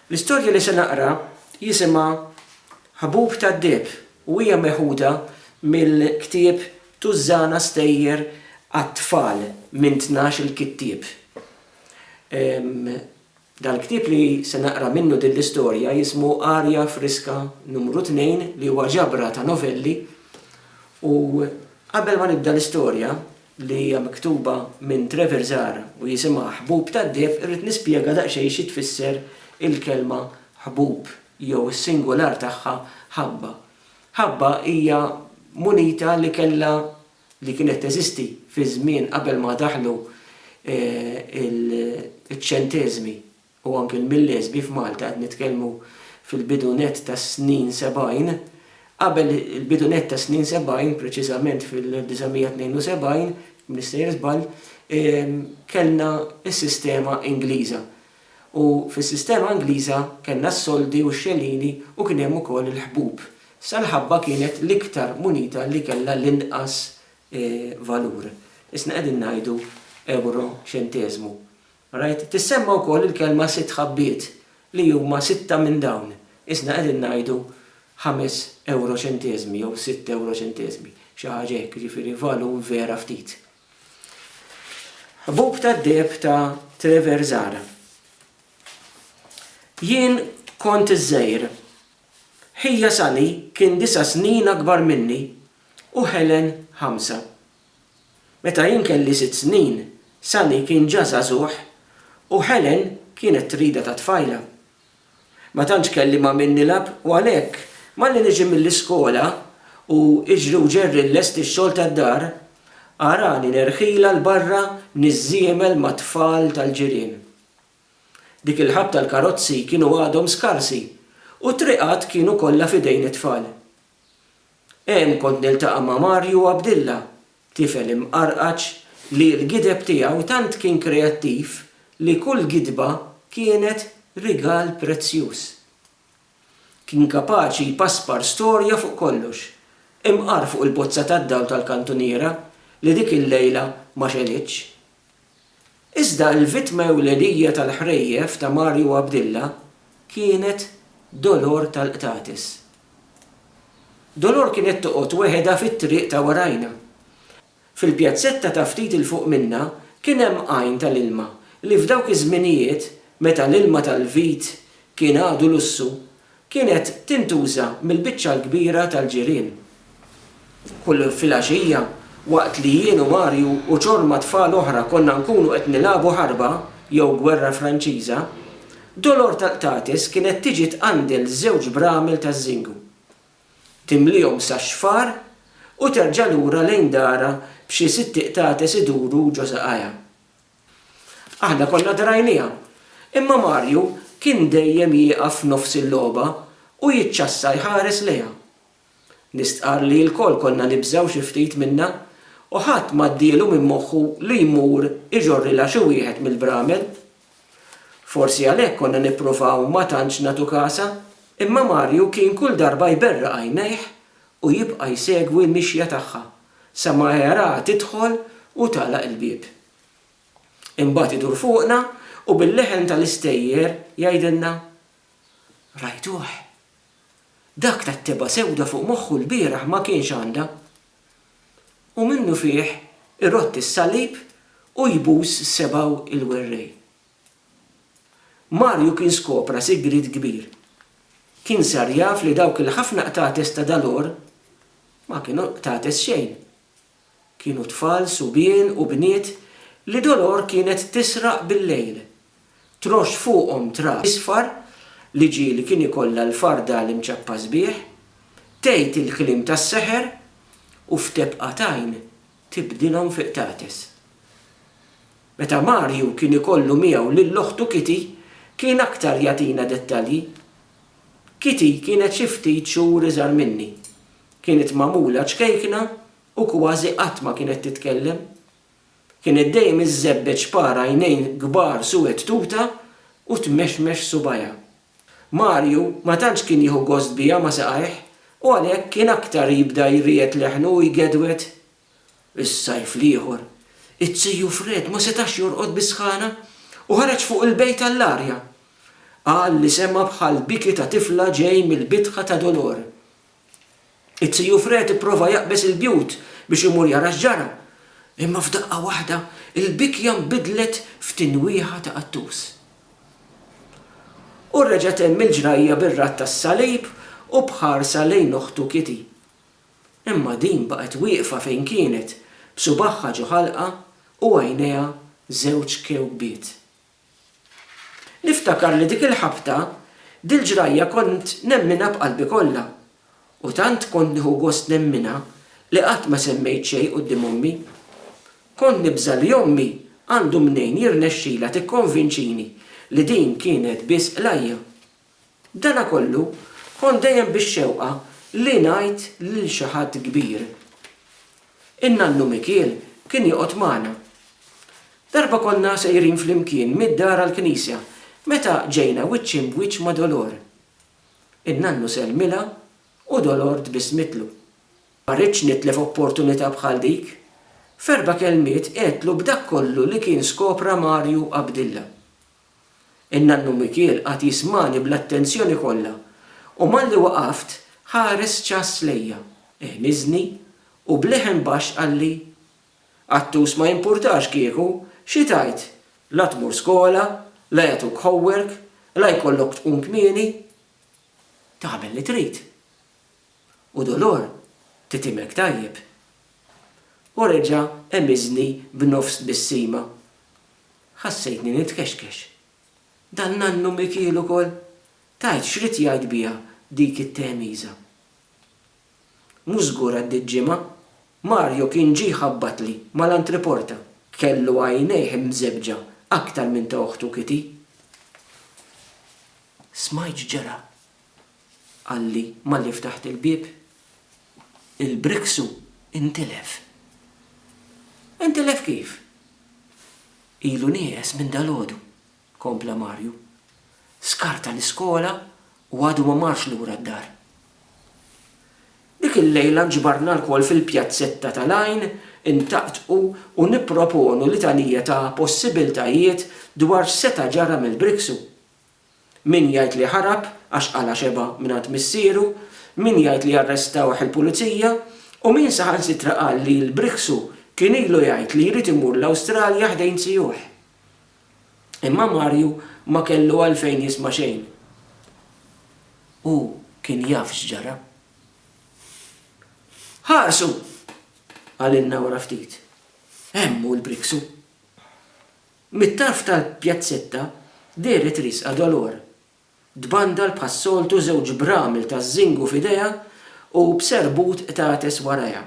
L-istorja li se naqra jisimha Ħbub tad-Dieb u hija meħuda mill-ktieb Tużżana Stejjer għat-Tfal minn Tnax-il Kittieb. Dal-ktieb li se naqra minnu din l-istorja jismu Arja Friska Numru Tnejn li huwa ġabra ta' novelli u qabel ma nibda l-istorja li hija miktuba minn Trevor Zahra u jisimha Ħbub tad-Deheb irrid nispjega daqsxejn xi tfisser il-kelma ħbub jew is-singular tagħha ħabba. Ħabba hija munita li kellha li kienet teżisti fiż-żmien qabel ma daħlu ċ-ċenteżmi. u anke l-Milleżbi f'Malta qed nitkellmu fil-bidu nett tas-snin sebgħin, qabel il-bidu nett tas-snin sebgħin, preċiżament fil-1972, jekk m'iniex sejjer żball, kellna s-sistema Ingliża. U fis-sistema Ingliża kellna s-soldi u x-xenini u kien hemm ukoll il-ħbub. Sa l-ħabba kienet l-iktar munita li kellha l-inqas valur. Isna qegħdin ngħidu ewro ċenteżmu. Rajt tissemma wkoll il-kelma sitt ħabbiet li huma sitta minn dawn, isna qegħdin ngħidu ħames ewroċenteżmi jew sitt ewroċenteżmi, xi ħaġa hekk, jiġifieri valur vera ftit. Ħbub tad-deheb ta' Treversar. Jien kont iż-żgħir. Ħija Sally kien disa' snin akbar minni u Helen ħamsa. Meta jien kelli sitt snin, Sammy kien ġa żagħżugħ u Helen kienet trida ta' tfajla. Ma tantx kelli ma' min nilgħab u għalhekk, malli niġi mill-iskola u iġri u ġerri nlesti x-xogħol tad-dar, arani nerħilha 'l barra niżżiemel mat-tfal tal-ġirien. Dik il-ħabta l-karozzi kienu għadhom skarsi u t-triqat kienu kollha f'idejn it-tfal. Hemm kont niltaqa' ma' Mario Abdilla, tifel imqarqaċ li l-gideb tiegħu tant kien kreattiv li kull gidba kienet rigal prezzjuż. Kien kapaċi jpaspar storja fuq kollox, imqar fuq il-bozza tad-dawl tal-kantuniera li dik il-lejla ma xegħlitx. Iżda l-vittma ewlenija tal-ħrejjef ta' Mario Abdilla kienet Dolor tal-Qtates. Dolor kienet toqgħod weħedha fit-triq ta' warajna. Fil-pjazzetta ta' ftit 'il fuq minnha kien hemm għajn tal-ilma li f'dawk iż-żminijiet, meta l-ilma tal-vit kien għadu lussu, kienet tintuża mill-biċċa l-kbira tal-ġirien. Kull filgħaxija, waqt li jien u Marju u ċorma tfal oħra konna nkunu qed nilagħbu ħarba jew gwerra Franċiża, Dolor tal-qtates kienet tiġi tqandel żewġ bramel taż-żingu, timliehom sax-xfar u terġa' lura lejn darha b'xi sitti qtates iduru ġo saqajha. Aħna konna drajnieha. Imma Mario kien dejjem jieqaf f'nofs il-logħba u jiċċassa jħares lejha. Nistqarr li lkoll konna nibżgħu xi ftit minnha u ħadd m'għaddielu minn moħħu li jmur iġorrilha xi wieħed mill-bramel. Forsi għalhekk konna nippruvaw ma tantx nagħtu kasha, imma Mario kien kull darba jberraq għajnejh u jibqa' jsegwi l-mixja tagħha. sa ma jaraha tidħol u tagħlaq il-bieb. Imbagħad idur fuqna u bil-leħen tal-istejjer jgħidilna, Rajtuh? Dak tat-tebgħa sewda fuq moħħu lbieraħ ma kienx għandha. U minnufih irodd is-salib u jbus s-sebgħu il-werrej. Marju kien skopra sigriet kbir. Kien sar jaf li dawk il-ħafna qtates ta' dal-għor ma kienu qtates xejn. Kienu tfal, subien u bniet li dol-għor kienet tisraq bil-lejl. Troxx fuqhom trab isfar li ġieli kien ikollha l-farda l-imċappa sbieħ, tgħid il-kliem tas-seħer u f'tebqa t'għajn tibdilhom fi qtates. Meta Mario kien ikollu miegħu lil oħtu Kitty, kien aktar jagħtina dettalji. Kitty kienet xi ftit xhur iżgħar minni. Kienet magħmula ċkejkna u kważi qatt ma kienet titkellem. Kienet dejjem iżżebbeġ par għajnejn kbar suwed tuta u tmexmex subgħajha. Mario ma tantx kien jieħu gost biha ma' saqajh u għalhekk kien aktar jibda jriegħed leħnu u jgedwed. Is-sajf l-ieħor, it-Ziju Fred ma setax jorqod bis-sħana u ħareġ fuq il-bejt għall-arja. Qal li sema' bħal biki ta' tifla ġej mill-bitħa ta' Dolore. Iz-Ziju Fred ipprova jaqbeż il-bjut biex imur jara x'ġara, imma f'daqqa waħda l-bikja nbidlet f'tinwieħa ta' qattus. U reġgħet hemm il-ġrajja bir-radd tas-salib u b'ħarsa lejn oħtu Kitty. Imma din baqgħet wieqfa fejn kienet, b'subaħħa ġo ħalqha u għajnejha żewġ kewkbiet. Niftakar li dik il-ħabta, dil-ġrajja kont nemminha b'qalbi kollha, u tant kont nieħu gost nemminha li qatt ma semmejt xejn quddiem ommi. Kont nibża' li ommi għandu mnejn jirnexxilha tikkonvinċini li din kienet biss qlajja. B'dana kollu, kont dejjem bix-xewqa li ngħid lil xi ħadd kbir. In-nannu Mikiel kien joqgħod magħna. Darba konna sejrin flimkien mid-dar għall-knisja meta ġejna wiċċ imb wiċċ ma' Dolor. In-nannu sellmilha u Dolor tbissmitlu. Ma ridtx nitlef opportunità bħal dik. F'erba' kelmiet għedtlu b'dak kollu li kien skopra Mario Abdilla. In-nannu Mikiel qagħad jismagħni bl-attenzjoni kollha u malli waqaft ħares ċass lejja, iħniżni u b'leħen baxx qalli, Attus ma jimpurtax kieku xi tgħid, la tmur skola, la jagħtuk homework, la jkollok tqum kmieni. Tagħmel li trid. U Dolor titimek tajjeb. U reġa' emiżni b'nofs tbissima. Ħassejtni nitkexkex. Dan nannu Mikiel ukoll? Tgħid x'ried jgħid biha dik it-tehmiża. Mhu żgur għaddiet ġimgħa, Mario kien ġie jħabbatli mal-antriporta. Kellu għajnejh imżebbġa aktar minn ta' oħtu Kitty. Smajt x'ġara, qalli malli ftaħt il-bieb. Il-Brixu intilef. Intilef kif? Ilu nieqes minn dalgħodu, kompla Marju. Skarta l-iskola u għadu ma marx lura d-dar. Dik il-lejla nġbarna lkoll fil-pjazzetta tal-Għajn intaqtqu u nipproponu litanija ta' possibiltajiet dwar x'seta' ġara mill-Brixu. Min jgħid li ħarab għax qala' xebgħa mingħand missieru, min jgħid li arrestawh il-pulizija u min saħansitra qal li l-Brixu kien ilu jgħid li jrid imur l-Awstralja ħdejn zijuh. Imma Marju ma kellu għalfejn jisma' xejn. Hu kien jaf x'ġara. Ħarsu! qalilna wara ftit. Hemm hu l-Brixu. Mit-tarf tal-pjazzetta dehret riesqa Dolor. Tbandal bħas-soltu żewġ bramel taż-żingu f'idejha u b'serbut qtates warajha.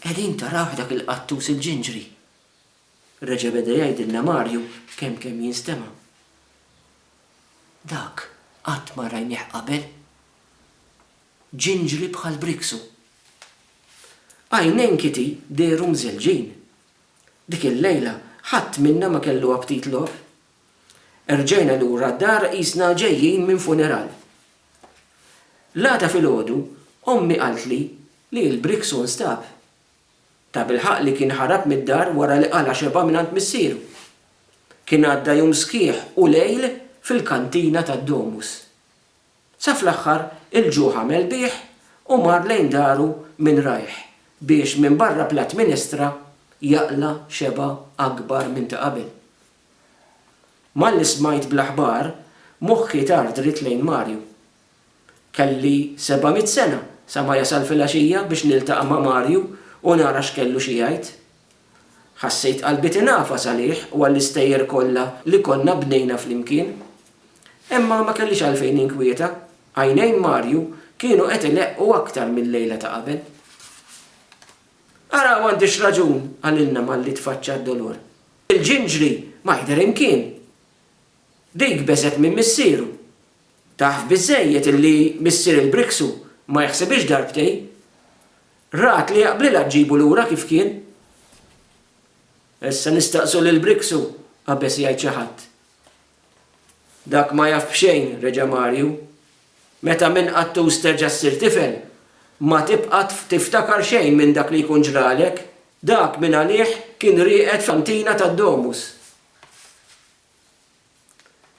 Qegħdin tarawh dak il-qattus il-ġinġri? reġa' beda jgħidilna Marju kemm kemm jinstema'. Dak qatt ma rajnieh qabel. Ġinġri bħal briksu. Għajnejn Kitty dehru mżelġin. Dik il-lejla ħadd minna ma kellu aptit logħob. Erġajna lura d-dar qisna ġejjin minn funeral. L-għada filgħodu ommi qaltli li l-briksu nstab. Tabilħaqq li kien ħarab mid-dar wara li qala' xebgħa mingħand missieru. Kien għadda jum sħiħ u lejl fil-kantina tad-Domus. Sa fl-aħħar il-ġuħ għamel bih u mar lejn daru minn rajh biex minbarra platt minestra jaqla' xebgħa akbar minn ta' qabel. Malli smajt bl-aħbar moħħi tar dritt lejn Mario. Kelli seba' mitt sena sa ma jasal filgħaxija biex niltaqa' ma' Mario u nara x'kellu xi jgħid. Ħassejt qalbi tingħafas għalih u għall-istejjer kollha li konna bnejna flimkien. Imma ma kellix għalfejn ninkwieta. Għajnejn Marju kienu qed ileqqu aktar mil-lejla ta' qabel. Ara m'għandix raġun, qalilna malli tfaċċa d-dolur. Il-ġinġri ma jidher imkien. Dik beżgħet minn missieru. Taf biżżejjed illi missier il-Brixu ma jaħsibhiex darbtejn. Rat li jaqblilha ġġibu lura kif kien. Issa nistaqsu lil Brix u qabeż jgħid xi ħadd. Dak ma jaf b'xejn, reġa' Marju. Meta minn qattus terġa' ssir tifel, ma tibqa' tiftakar xejn minn dak li jkun ġralek. Dak minn għalih kien rieqed f'kantina tad-Domus.